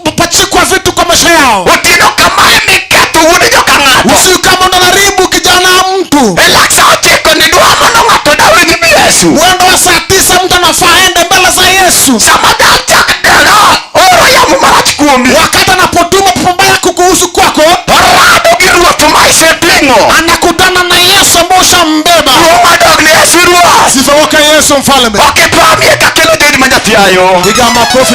kupachikwa vitu kwa maisha yao otieno kamae miketho wuod joka ng'ato usiku kama ndo naribu kijana wa mtu e lak sa ochiko ni dwa mondo ng'ato dawe gi mi yesu mwendo wa saa tisa mtu anafaa aende mbele za yesu sama dal chak dala oro yamo marach kuomi wakati anapotuma pepo mbaya kukuhusu kwako orado gi ruoth ma iseting'o anakutana na yesu ambao ushambeba ruo madog ni yesu ruoth sifa wake yesu mfalme okipamie kakelo jodi ma nyathiayo Piga makofi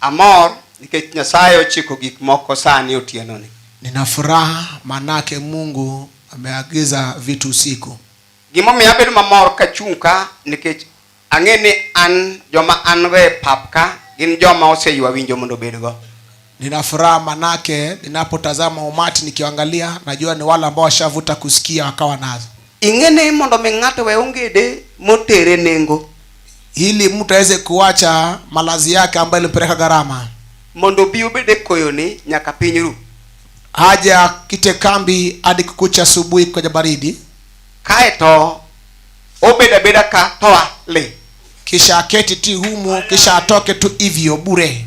Amor nikech Nyasaye ochiko gik moko sani otienoni. Nina furaha manake Mungu ameagiza vitu usiku. Gimomiyo abedo mamor kachung' ka nikech ang'e ni an joma an-go e pap ka gin joma oseywa winjo mondo obedgo. Nina furaha manake ninapotazama umati nikiangalia, najua ni wale ambao washavuta kusikia wakawa nazo. Ing'e ni mondo mi ng'ato we ongede motere nengo, ili mtu aweze kuacha malazi yake ambayo ilimpeleka gharama, mondo bi obed e koyoni nyaka piny ru. aje akite kambi hadi kukucha asubuhi kwenye baridi, Kae to obed abeda ka to a le. kisha aketi ti humu, kisha atoke tu hivyo bure.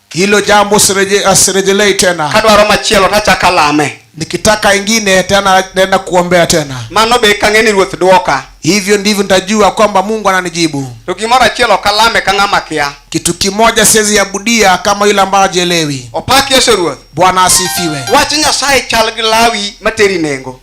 Hilo jambo sireje, asirejelei tena. Kadwaro machielo tachaka alame. Nikitaka ingine tena naenda kuombea tena. Mano be kang'eni ruoth dwoka. Hivyo ndivyo nitajua kwamba Mungu ananijibu. To gimoro achiel ok alame ka ng'ama kia. Kitu kimoja siwezi abudia kama yule ambaye hajielewi. Opak Yesu Ruoth. Bwana asifiwe. Wach Nyasaye chal gi lawi materi nengo.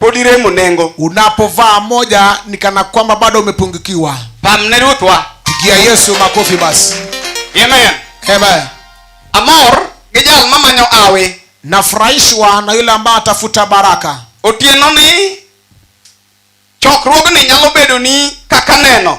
pod iremo nengo. Unapovaa moja ni kana kwamba bado umepungukiwa. Pamne Ruthwa. Pigia Yesu makofi basi. Amen. Amen. Amor gi jal mamanyo awe. Nafurahishwa na yule ambaye atafuta baraka. Otieno ni chokruogni nyalo bedo ni kaka neno.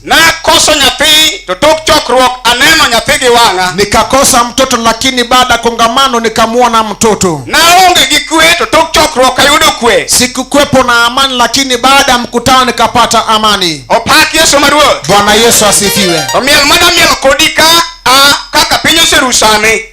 Nakoso nyathi to tok chokruok aneno nyathi gi wang'a. Nikakosa mtoto lakini baada ya kongamano nikamwona mtoto. Naonge gi kwe to tok chokruok ayudo kwe. Sikukwepo na amani lakini baada ya mkutano nikapata amani. Opak Yesu maruoth. Bwana Yesu asifiwe. Omiel mana miel kodi ka a kaka piny oseru sani.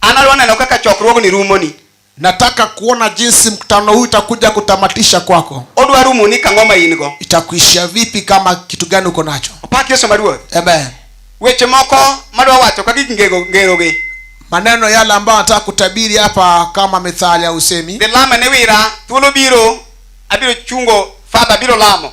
Anadwa neno kaka chokruogni rumoni. Nataka kuona jinsi mkutano huu itakuja kutamatisha kwako. Odwa rumoni kang'o ma in go. Itakuishia vipi kama kitu gani uko nacho? Opak Yesu maruoth. Amen. Weche moko madwa wacho ka gik ngego ngerogi. Maneno yale ambayo nataka kutabiri hapa kama methali ya usemi. Dhi lama ne wira, thuolo biro, abiro chungo, Father abiro lamo.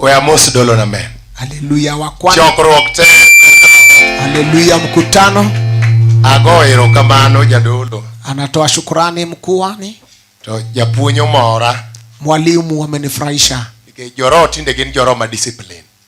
Weamos dolo na men. Haleluya wa kwanza. Chokruok te. Haleluya mkutano. Ago erokamano jadolo. Anatoa shukrani mkuani. To japuonyo mora. Mwalimu amenifurahisha. Nikech joro tinde gin joro ma discipline.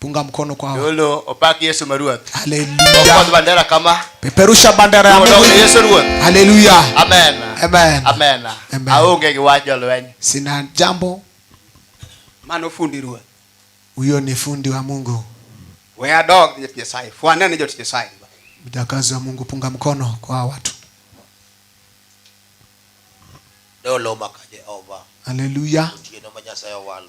Punga mkono kwa hawa. Yolo opaki Yesu maruath. Haleluya. Okodh bandera kama. Peperusha bandera ya Mungu. Yesu ruath. Haleluya. Amen. Amen. Amen. Amen. Aonge gi wach jolweny. Sina jambo. Mano fundi ruath. Huyo ni fundi wa Mungu. We are dog ni Nyasaye. Fuana ni jot Nyasaye. Mjakazi wa Mungu punga mkono kwa watu. Dolo maka Jehova. Haleluya. Otieno ma Nyasaye owalo.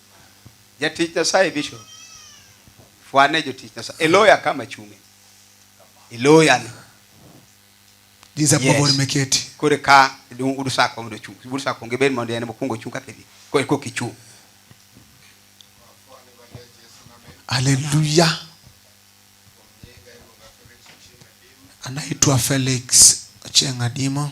Jatich Nyasaye bishop. Fwane jotich Nyasaye. Eloya kama chunge. Eloya ni. Giza yes. pogo meketi. Kore ka dum udu sa ko ndo chung. Udu sa ko ngeben mondo ene mokungo chung kake di. Kore ko kichu. Hallelujah. Anaitwa Felix Chengadimo.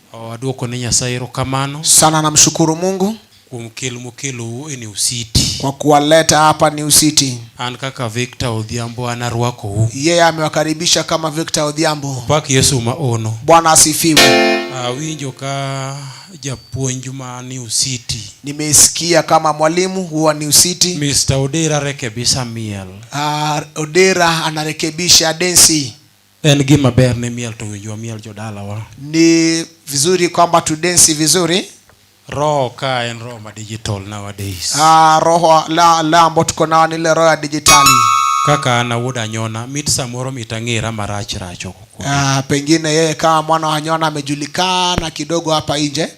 Aduoko ne Nyasaye erokamano sana, namshukuru Mungu kuom kel mokelou e New City. kwa kuwaleta hapa New City. An kaka Victor Odhiambo an arwakou. Yeye amewakaribisha kama Victor Odhiambo. Pak Yesu ma ono. Bwana asifiwe. Awinjo ka japuonj ma New City. Nimesikia kama mwalimu huwa New City. Mr. Odera rekebisha miel. Uh, Odera anarekebisha densi. En gima ber ne miel to winjwa miel jodalawa. Ni vizuri kwamba tudensi vizuri. Roho ka en roho ma digital nowadays. Ah, roho la la ambayo tuko nayo ni ile roho ya dijitali. Kaka ana wuod anyona mit samoro mit ang'era marach rach huko. Ah, pengine yeye kama mwana wa anyona amejulikana kidogo hapa nje.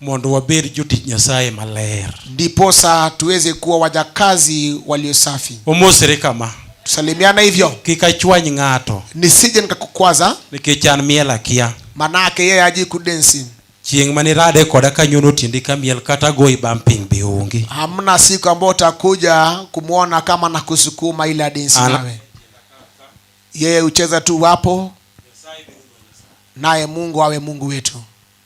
mondo wabed jotich nyasaye maler ndiposa tuweze kuwa wajakazi walio safi omosre kama tusalimiana hivyo kik achwany ng'ato nisije nikakukwaza nikech an miel akia manake yeye aji kudensi chieng' mane irade koda kanyono tiendi kamiel kata goyi bam piny be onge hamna siku ambayo utakuja kumwona kama na kusukuma ile adensi Ana- nawe yeye hucheza tu wapo naye mungu awe mungu wetu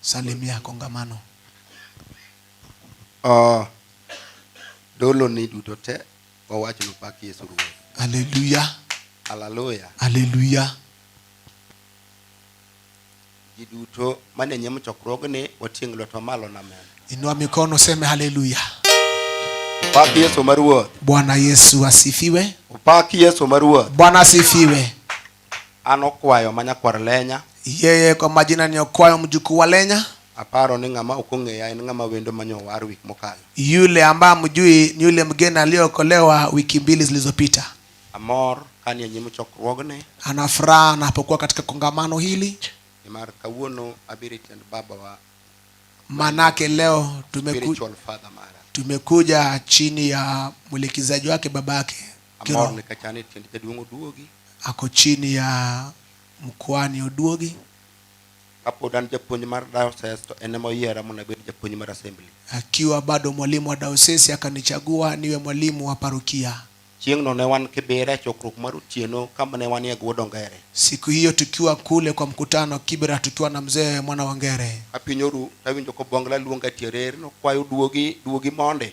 Salimia kongamano. Uh, dolo ni duto te wawach ni pak Yesu Ruoth. Haleluya. Haleluya. Haleluya. Ji duto mane nyim chokruogni wating' lwetwa malo na amen. Inua mikono seme haleluya. Pak Yesu maruoth. Bwana Yesu asifiwe. Pak Yesu maruoth. Bwana asifiwe. An Okwayo ma nyakwar Lenya. Yeye kwa majina ni Okwayo mjukuu wa Lenya. Aparo ni ng'ama ok ong'eya en ng'ama wendo manyo owar wik mokalo. Yule ambaye mjui ni yule mgeni aliyeokolewa wiki mbili zilizopita. Amor kani e nyim chokruogni. Ana furaha anapokuwa katika kongamano hili. Nimar kawuono abiro tiend baba wa. Manake leo tumeku, tumekuja chini ya mwelekezaji wake babake. Amor ni kachane e tiend jaduong' oduogi. Ako chini ya mkwani oduogi. Kapod an japuonj mar diocese to en ema oyiera mondo abed japuonj mar assembly. Akiwa bado mwalimu wa diocese akanichagua niwe mwalimu wa parokia. Chieng'no ne wan Kibera e chokruok mar otieno kama ne wanie Guodo Ngere. Siku hiyo tukiwa kule kwa mkutano Kibera tukiwa na mzee mwana wa Ngere. Apinyoru tawinjo kobongla luonga tierer nokwayo duogi duogi monde.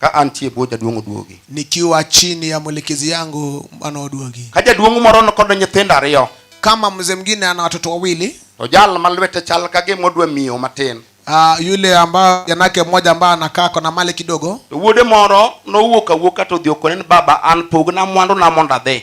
ka antie e bwo jaduong' Oduogi. nikiwa chini ya mwelekezi yangu mano Oduogi. Ka jaduong' moro nikod nyithindo ariyo, Kama mzee mwingine ana watoto wawili, to jal ma lwete chal ka gima odwa miyo matin, ah, yule ambayo janake mmoja ambaye anakaa kona mali kidogo, to wuode moro nowuok awuoka to odhi okone ni baba, an pogna mwanduna mondo adhi.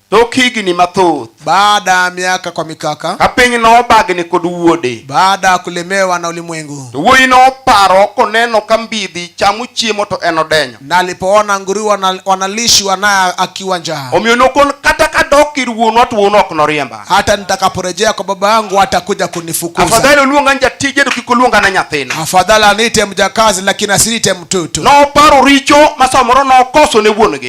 Tok higni mathoth, baada ya miaka kwa mikaka, ka piny nobagni kod wuode, baada ya kulemewa na ulimwengu, to wuoyi noparo koneno ka mbidhi chamo chiemo to en odenyo, na alipoona nguruwe wana- wanalishwa naye akiwa njaa, omiyo nokon kata kadok ir wuonwa to wuonwa ok noriemba. hata nitakaporejea kwa baba yangu hatakuja kunifukuza. Afadhali oluonga ni jatije to kik oluonga na nyathina. Afadhali aniite mjakazi, lakini asiniite mtoto. Noparo richo ma samoro nokoso ne wuon-gi.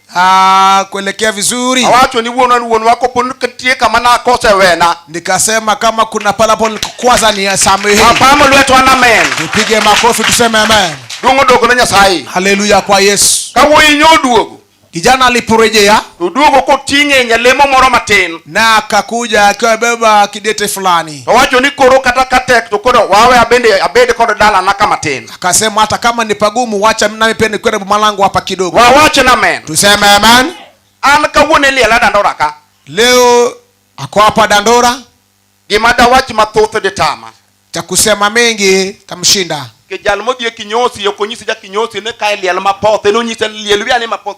Ah, kuelekea vizuri awacho ni wuonwa ni wuonwa kopo ni nitie kama nakose wena nikasema kama kuna palapo nikukwaza ni samehe apamo lweto an amen tupige makofi tuseme amen duong' odogo ne nyasaye haleluya kwa yesu ka wuoyi nyo oduogo kijana aliporejea to oduogo koting'e nyalemo moro matin na akakuja akiwa amebeba kidete fulani to wacho ni koro kata ka tek to koro wawe abende abed kod dalana ka matin akasema hata kama ni pagumu wacha nami pia nikwende boma langu hapa kidogo wawache na men tuseme amen an kawuono iliela dandora ka leo ako hapa dandora gima dawach mathoth ditama cha kusema mengi tamshinda kijal modhi e kinyosi okonyisi ja kinyosi ne ka e liel mapoth en onyise liel wiya ni mapoth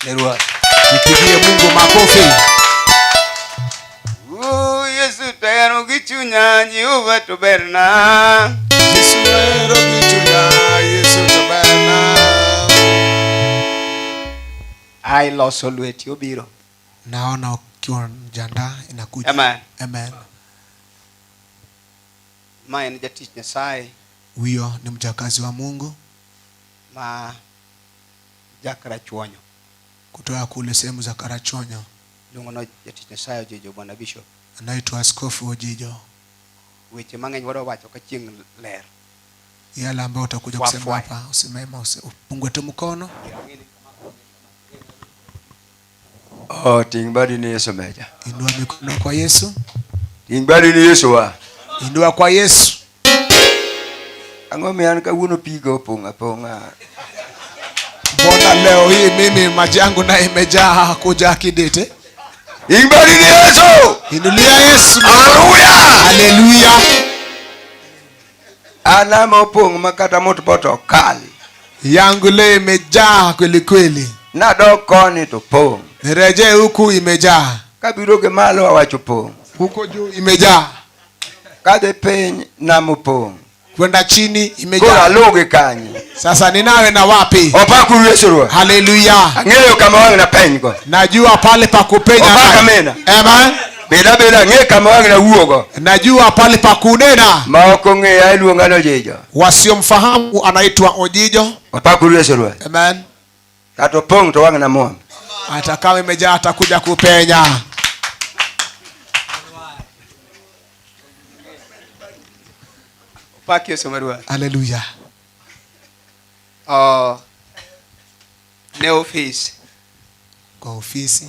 Haleluya. Nipigie Mungu makofi. Oh, Yesu tayaro gichunya Jehova to berna. Yesu tayaro gichunya Yesu to berna. Ai loso lweti obiro. Naona ukiwa mjanda inakuja. Amen. Amen. Mae ni jatich Nyasaye. Huyo ni mjakazi wa Mungu. Ma ja Karachuonyo. kutoka kule sehemu za Karachuonyo. Luongo na jatich Nyasaye Ojijo, Bwana Bishop. Anaitwa Askofu Ojijo. Weche mang'eny wadwa wacho ka chieng' ler. Yale ambayo utakuja Fwa, kusema fwa. hapa usimema, usi- upungue tu mkono. Yang'eni Oh, ting badi ni Yesu meja. Inua mikono kwa Yesu. Ting badi ni Yesu wa. Inua kwa Yesu. Ang'o mian kawuono pigo ponga ponga. Mbona leo hii mimi maji yangu na imejaa kuja kidete? Ting badi ni Yesu. Inulia Yesu. Haleluya. Haleluya. Alama opong' ma kata mot boto ok kal. Yangu leo imejaa kweli kweli. Nadok koni to pong'. Nirejee huku imejaa. Kabiro gi malo awacho pong'. Huko juu imejaa. Kadhi piny nam opong'. Kwenda chini imejaa. Koro alugi kanye? Sasa ninawe na wapi? Opakuru Yesu Ruoth. Haleluya. Ang'eyo kama wang' na penygo. Najua pale pa kupenya. Opaka mena. Amen. Beda beda ng'e kama wang' na wuogo. Najua pale pa kunena. Ma ok ong'eya iluonga ni Ojijo. Wasiomfahamu anaitwa Ojijo. Wapakuru Yesu Ruoth. Amen. Kata opong' to wang' na muom. Hata kama imejaa atakuja kupenya. Pak Yesu marua. Haleluya. Uh, oh, ne ofisi. Kwa ofisi.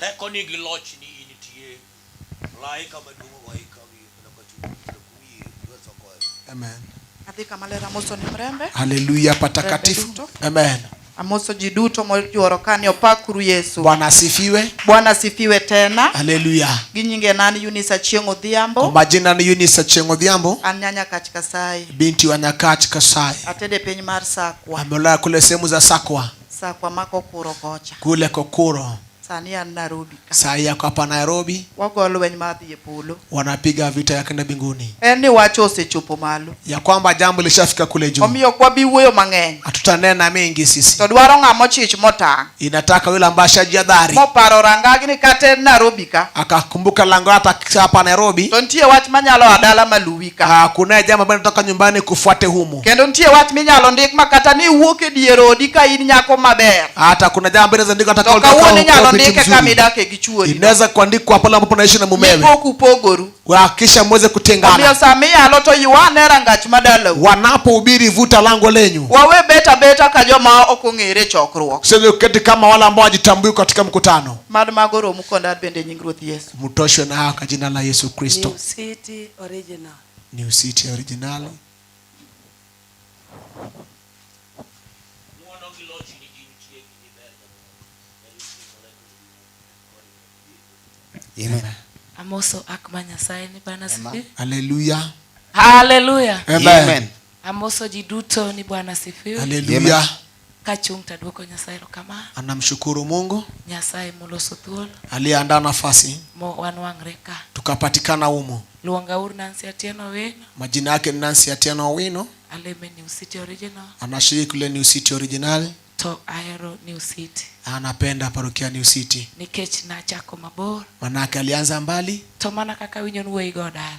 Teko ni gi loch ni nitie. Malaika maduong' owayi ka wiye mana ka chunyi kendo kum yie lwet ogoyo. Amen. Adhi kama ler amoso ni mrembe. Haleluya patakatifu. Amen. Amoso ji duto mojuoro ka ni opakuru Yesu. Bwana asifiwe. Bwana asifiwe tena. Haleluya. Gi nyinge nan Eunice Achieng' Odhiambo. Kwa majina ni Eunice Achieng' Odhiambo. An nyanya kach Kasai. Binti wa Nyakach Kasai. Atede piny mar Sakwa. Amelala kule sehemu za Sakwa. Sakwa mako kuro kocha. Kule kokuro. Sani an Nairobi ka. Saa hii ako hapa Nairobi, Wago lweny mar dhi e polo. wanapiga vita ya kwenda mbinguni, En ni wach osechopo malo. ya kwamba jambo lishafika kule juu. Omiyo ok wabi wuoyo mang'eny. Hatutanena mengi sisi, To dwaro ng'a mochich motang'. inataka yule ambaye ashajihadhari Moparo rangagi ni kata en Nairobi ka. akakumbuka lango hata hapa Nairobi, To nitie wach manyalo adala maluwi ka. Ah, kunaye jambo ambaye anatoka nyumbani kufuate humu Kendo nitie wach minyalo ndik ma kata ni iwuok e dier odi ka in nyako maber. hata kuna jambo inaweza andikwa hata To kama kawuono unataka inyalo kuwa binti ndike kama mzuri. idake gi chuori. inaweza kuandikwa pale ambapo unaishi na mumewe Mipok upogoru. hakikisha mweze Omiyo kutengana sama iyalo to ywane rangach madalau. wanapohubiri vuta lango lenyu Wawe beta beta ka joma ok ong'ere e chokruok. sivyo uketi kama wale ambao wajitambui katika mkutano Mad mago romu kondad bende e nying Ruoth Yesu. mtoshwe na haya kwa jina la yesu kristo New City Original. New City Original. Amen. Amoso ak ma Nyasaye ni Bwana sifi. Haleluya. Haleluya. Amen. Amoso ji duto ni Bwana sifiwe. Haleluya. Kachung' taduoko Nyasaye erokamano. Anamshukuru Mungu Nyasaye moloso thuolo aliyeandaa nafasi mo wanwang're ka. tukapatikana humu. Luonga ur Nancy Atieno Owino, Majina yake ni Nancy Atieno Owino, aleme New City Original anashiriki kule New City Original, to ahero New City anapenda parokia New City nikech nachako mabor manake alianza mbali, to mana kaka winyo nuweyi go dala.